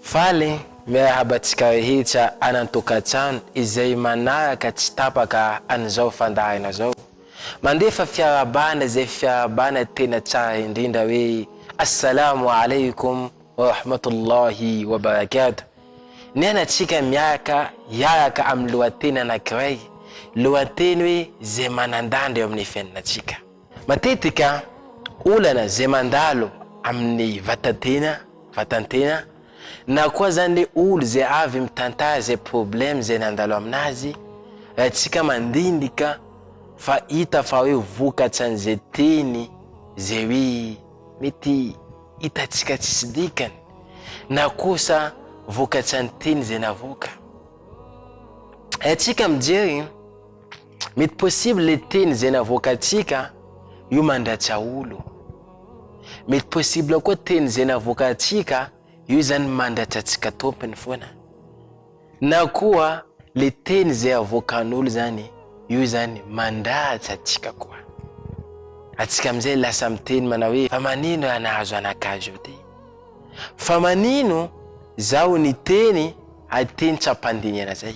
Faly miarahaba antsika rehetra any an-tokantrano izay manaraka tsy tapaka an'izao fandaharana izao. Mandefa fiarahabana izay fiarahabana tena tsara indrindra hoe Assalamu alaikum wa rahmatullahi wa barakatuh. Nianatsika miaraka hiaraka amin'ny lohateny anankiray, lohateny hoe izay manan-danja eo amin'ny fiainantsika. Matetika olana izay mandalo amin'ny vatan-tena, vatan-tena, na koa zany le olo izay avy mitantara izay problème izay nandalo aminazy, raha tsika mandinika fa hita fa hoe vokatsan'izay teny izay hoe mety hitantsika tsisy dikany, na kosa vokatsan'ny teny izay navoaka. Raha tsika mijery. Mety possible le teny zay navoakantsika io mandratsy aolo. Mety possible koa teny zay navoakantsika io zany mandratsy atsika tompony foana. Na koa le teny zay avoakan'olo zany io zany mandratsy atsika koa. Atsika amizay lasa miteny manao hoe fa manino raha nahazo anakazo io ty? Fa manino zaho niteny ateny tsy ampandinihana zay?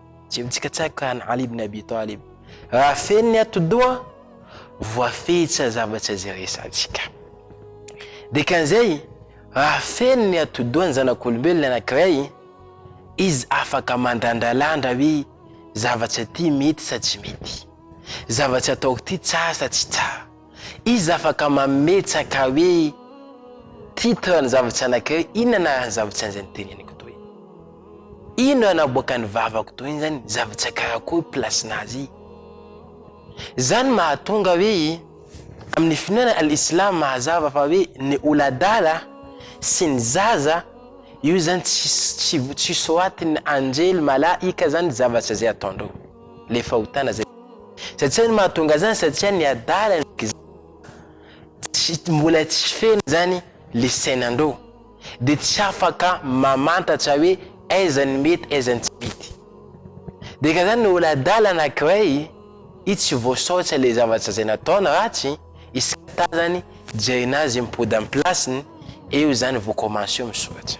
Tsy mitsikatsaka an'i Ali ibn Abi Talib. Raha feno ny atidoha, voafehy tsy hazava tsy hazeresantsika. Dikan'izay, raha feno ny atidoha ny zanak'olombelona anankiray, izy afaka mandrandralandra hoe zavatra ity mety sa tsy mety, zavatra ataoko ity tsara sa tsy tsara. Iza afaka mametsaka hoe titre ny zava-tsy anankiray inona anaran'ny zava-tsy an'izay noteneniko toy? Inona naboakan'ny vavako toy izany zava-tsy karakory place-na azy? Izany mahatonga hoe amin'ny finoana al-islam mazava fa hoe ny oladala sy ny zaza io izany tsy tsy soatin'ny anjely, malaika, izany zava-tsy izay ataondreo. le fahotana zay satsia ny mahatonga zany satsia ny adala ndreky tsy mbola tsy feno zany le sainandreo de tsy afaka mamantatra hoe aiza ny mety aiza ny tsy mety de ka zany olo adala anakiray i tsy voasaotra le zavatra zay nataony ratsy iskatazany jerena azy mipody am plasiny eo zany vao commence misoratra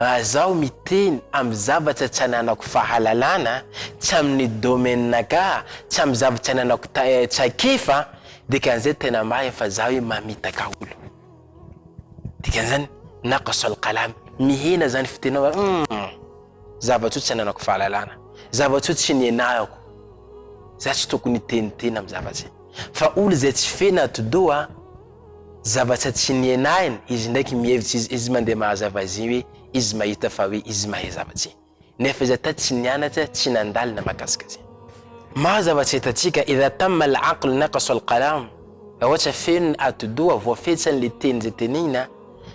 Raha zaho miteny amin'ny zavatra tsy ananako fahalalana, tsy amin'ny domaine-naka, tsy amin'ny zavatra tsy ananako traikefa, dikan'izay tena marina fa zaho hoe mamitaka olo. Dikan'izany, naqas al-qalam, mihena izany fitenaovana, humm, zavatra io tsy ananako fahalalana, zavatra io tsy nianarako, za tsy tokony hiteniteny amin'ny zavatra izay. Fa olo izay tsy feno atidoha, Zavatra tsy nihenahiny, izy ndraiky mihevitsy izy, izy mandeha mahazava azy iny hoe izy mahita fa hoe izy mahay zavatra iny. Nefa izy hata tsy nianatra, tsy nandalo na mahakasika azy iny. Maro zavatra hitantsika, idha tamma al-aql naqasa al-qalam, raha ohatra feno ny atidoha, voafetsany le teny izay tenenina,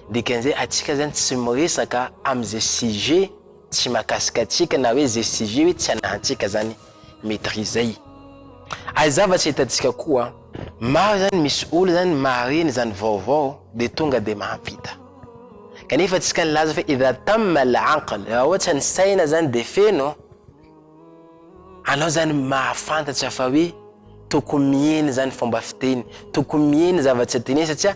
dikan'izay atsika zany tsy miresaka am'izay sujet, Tsy mahakasika antsika na hoe zay sy zay hoe tsy anahantsika zany maîtriser e. Ary zavatra hitantsika koa, maro zany misy olona zany mahareny zany vaovao de tonga de mampita. Kanefa antsika nilaza fa idha tamma al-aql, raha ohatra ny saina zany de feno, anao zany mahafantatra fa hoe tokony mihena zany fomba fiteny, tokony mihena zavatra teneny satria,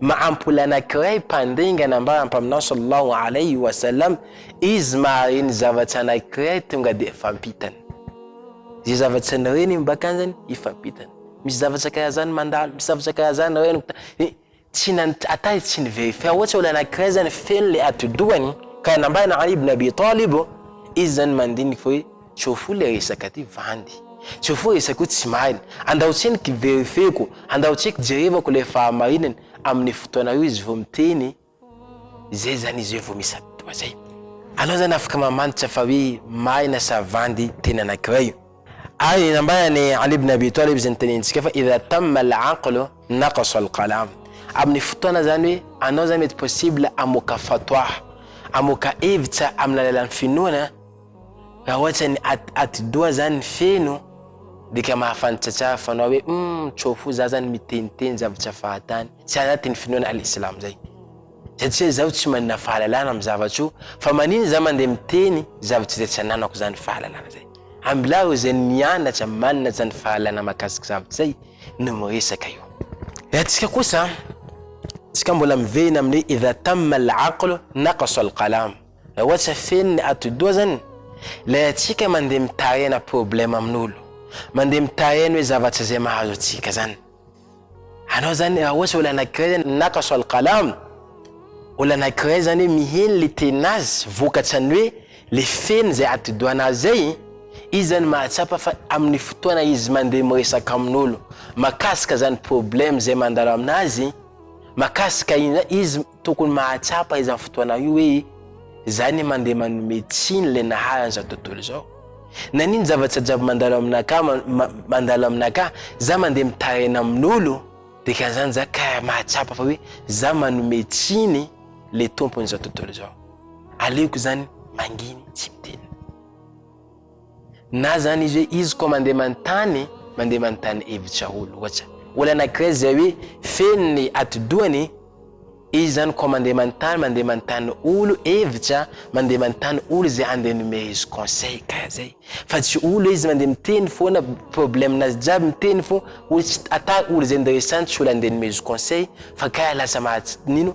Mahampola anankiray mpandringana ambara Mpaminany sallallahu alayhi wa sallam izy mahareny zavatra anankiray tonga dia fampitany. Izay zavatra nireny iny bakanjany hifampitany. Misy zavatra karaha zany mandalo, misy zavatra karaha zany reniko ta- eh, tsy nant- atay tsy niverifia ohatra olona anankiray zany feno le atidohany ka nambarana Ali ibn Abi Talib izy zany mandiniky hoe Tsy ho fohy le resaka ty vandy. Tsy ho fohy resaka io tsy marina. Andao tsiny ki verifieko, andao tsiny kijerevako le fahamarinany amin'ny fotoana io izy vao miteny zay zany izy hoe vao misy atoa zay. Anao zany afaka mamantatra fa hoe marina sa vandy teny anakiray. Ary ny nambarany Ali ibn Abi Talib zay nitenentsika fa idha tamma al aqlu naqasa al qalam. Amin'ny fotoana zany hoe anao zany mety possible hamoaka fatwa, hamoaka hevitra amin'ny alalan'ny finoana, Raha ohatra ny at, atidoha zany feno de ka mahafantatra tsara fanao hoe humm tsao fo za zany miteniteny zavatra fahatany tsy anatin'ny finoana Al Islam zay satria zaho tsy manana fahalalana amin'ny zavatra io fa manina za mandeha miteny zavatra izay tsy ananako zany fahalalana zay. Ambilaro izay mianatra manana zany fahalalana mahakasika zavatra izay no miresaka io. Raha antsika kosa, antsika mbola miverina amin'ny hoe idha tamma al aql naqasa al qalam, Raha ohatra feno ny atidoha zany, ilay antsika mandeha mitahena problème amin'olo, mandeha mitahena hoe zavatra zay mahazo antsika zany. Anao zany raha ohatra olo anakiray zany naqasa al-qalam, olo anakiray zany hoe miheno le tenazy vokatrany hoe le feno zay atidohanazy zay, izy zany mahatsapa fa amin'ny fotoana izy mandeha miresaka amin'olo makasika zany problème zay mandalo aminazy, makasika iny zany, izy. tokony mahatsapa izany fotoana io hoe za ne mandeha manome tsiny ilay naharany izao tontolo izao. Naninona zavatra jiaby mandalo aminaka mandalo aminaka za mandeha mitaraina amin'olo de ka zany za ka mahatsapa fa hoe za manome tsiny le tompony izao tontolo izao. Aleoko zany manginy tsy miteny. Na zany izy hoe izy koa mandeha manontany, mandeha manontany hevitra ho loatra. Olana Grèce izay hoe feno ny atidohany, izy zany koa mandeha manontany, mandeha manontany olo hevitra, mandeha manontany olo izay handeha hanome izy conseil, karaha zay. Fa tsy olo hoe izy mandeha miteny foana problème nazy jiaby miteny fô, olo tsy ata olo izay ndresany tsy olo handeha hanome izy conseil fa karaha lasa maha tsy nino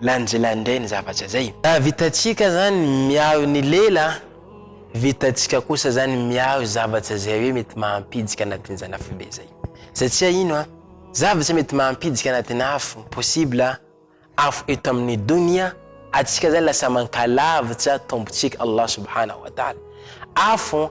Lanjila indray ny zavatra zay. Raha vitantsika zany miaro ny lela, vitantsika kosa zany miaro zavatra zay hoe mety mahampijika anatin'izany afo be zay. Satria ino an, zavatra mety mahampijika anatin'ny afo, possible afo eto amin'ny donia, atsika zany lasa mankalavitra Tompontsika Allah subhanahu wa ta'ala. Afo.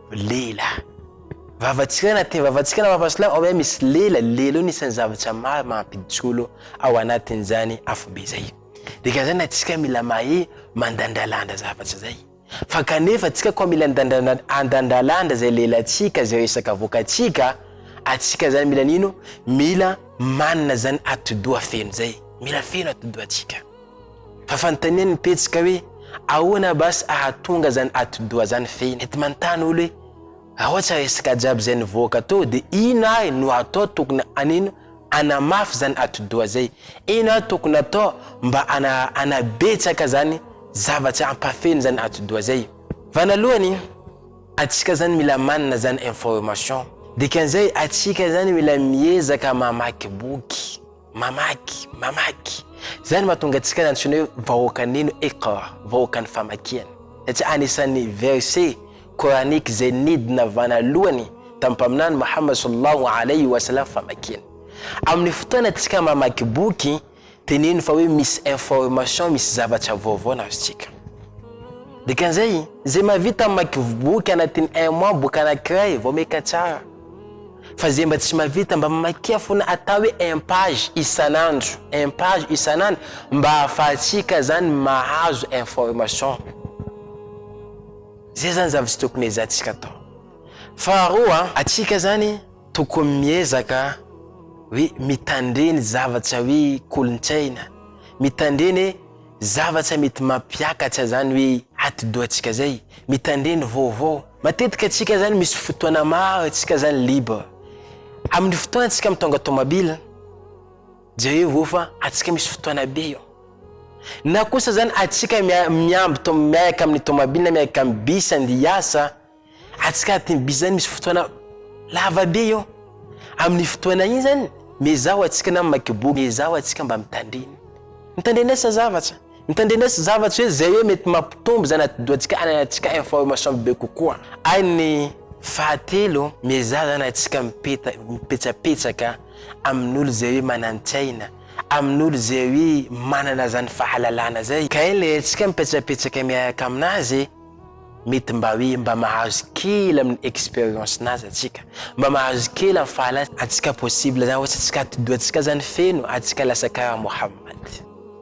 Lela. Vavantsika na te vavantsika na vava silamo, ao ihany misy lela, lela io anisan'ny zavatra maro mampijolo ao anatin'izany afobe izay. Dikan'izany antsika mila mahay mandandralandra zavatra izay. Fa kanefa antsika koa mila andandralandra izay lelantsika, izay resaka avoakantsika, antsika izany mila nino, mila manana izany atidoha feno izay, mila feno atidohantsika. Fa fanontaniany ny pejy ka hoe ahoana basy ahatonga zany atidoha zany fehiny. Mety manontany olo hoe raotsa resaka jiaby zay nivoaka tao de ino ary no atao tokony hanino hanamafy zany atidoha zay? Ino ary tokony atao mba hanabetsaka zany zavatra hampafeno zany atidoha zay? Vanalohany atsika zany mila manana zany information dikanzay atsika zany mila miezaka mamaky boky. Mamaky, mamaky. Izay no mahatonga antsika nantsoina hoe vahoakan'ino? Iqra, vahoakan'ny famakiana. Satria anisan'ny verset coranique izay nidina vanalohany tamin'ny Mpaminany Mohammed sallallahu alayhi wa sallam famakiana. Amin'ny fotoanantsika mamaky boky, teneno fa hoe misy information, misy zavatra vaovao nazontsika. Dikan'izay, izay mahavita mamaky boky anatin'ny un mois boky anankiray, vaomaika tsara. Fa zay mba tsy mavita mba mamakia fona atao hoe un page isan'andro un page isan'andro mba ahafahantsika zany mahazo information. Zay zany zavatra tokony ezahantsika atao. Faharoa atsika zany tokony miezaka hoe mitandre ny zavatra hoe kolontsaina, mitandre ny zavatra mety mampiakatra zany hoe atidohantsika zay, mitandre ny vaovao. Matetika antsika zany misy fotoana maro antsika zany libre. Amin'ny fotoana antsika mitondra tomabila, jerevo eo fa antsika misy fotoana be eo. Na kosa zany antsika miamby to miaraka amin'ny tomabila na miaraka amin'ny bus andeha hiasa, antsika anatin'ny bus zany misy fotoana lava be eo. Amin'ny fotoana iny zany miezaho antsika na mamaky boky, miezaho antsika mba mitandrina. Mitandrina asa zavatra. Mitandrenesy zavatra hoe zay hoe mety mampitombo izany atidohantsika any anatintsika information be kokoa. Ary ny fahatelo, miezaha izany atsika mipeta, mipetsapetsaka amin'olo zay hoe manantsaina, amin'olo zay hoe manana izany fahalalana zay. Ka iny le atsika mipetsapetsaka miaraka aminazy, mety mba hoe mba mahazo kely amin'ny expérience nazy atsika, mba mahazo kely amin'ny fahalalana atsika possible zany ohatsy atsika atidohantsika zany feno atsika lasa karaha Mohammad.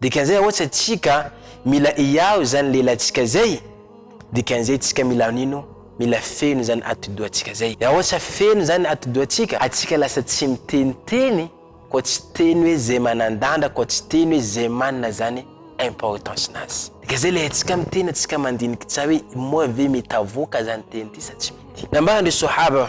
Dikan'izay aohatsa tsika mila hiaho izany lehilahy tsika izay, dikan'izay tsika mila hanino, mila feno izany atidoha tsika izay. Dia aohatsa feno izany atidoha tsika, atsika lasa tsy miteniteny koa tsy teny hoe zay manandandra koa tsy teny hoe zay manina zany importance nazy. Dikan'izay ilay atsika miteny atsika mandiniky tsa hoe moa ve mety avoaka zany teny ty sa tsy mety. Nambaran-dry Sohaba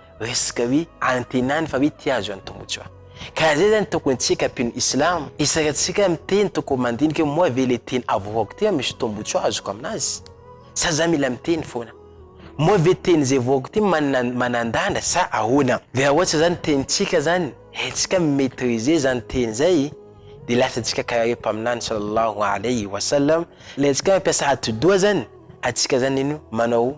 resaka hoe antenany fa hoe te azo antomotra. Ka zay zany tokony tsika mpino islam, isaka tsika miteny tokony mandinika hoe moa ve le teny avoakako ty misy tombotsoa azoko aminazy? Sa za mila miteny foana? Moa ve teny zay voako ty manandanja sa ahoana? De ra ohatsa zany tenitsika zany haintsika mi maitriser zany teny zay de lasa tsika karaha hoe mpaminany salallahu alaihi wa sallam, le antsika mampiasa atidoha zany atsika zany ino manao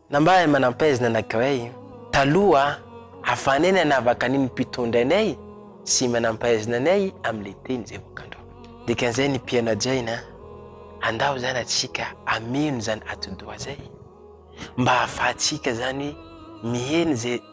Na mba hay manampaizina anankiray taloha ahafahanay nanavaka ny ny mpitondra anay sy manampaizina anay amin'ilay teny izay voakandro. Dikan'izay ny mpiana-jaina, andao izany antsika hameno izany atidoha izay mba ahafahantsika izany mihena izay.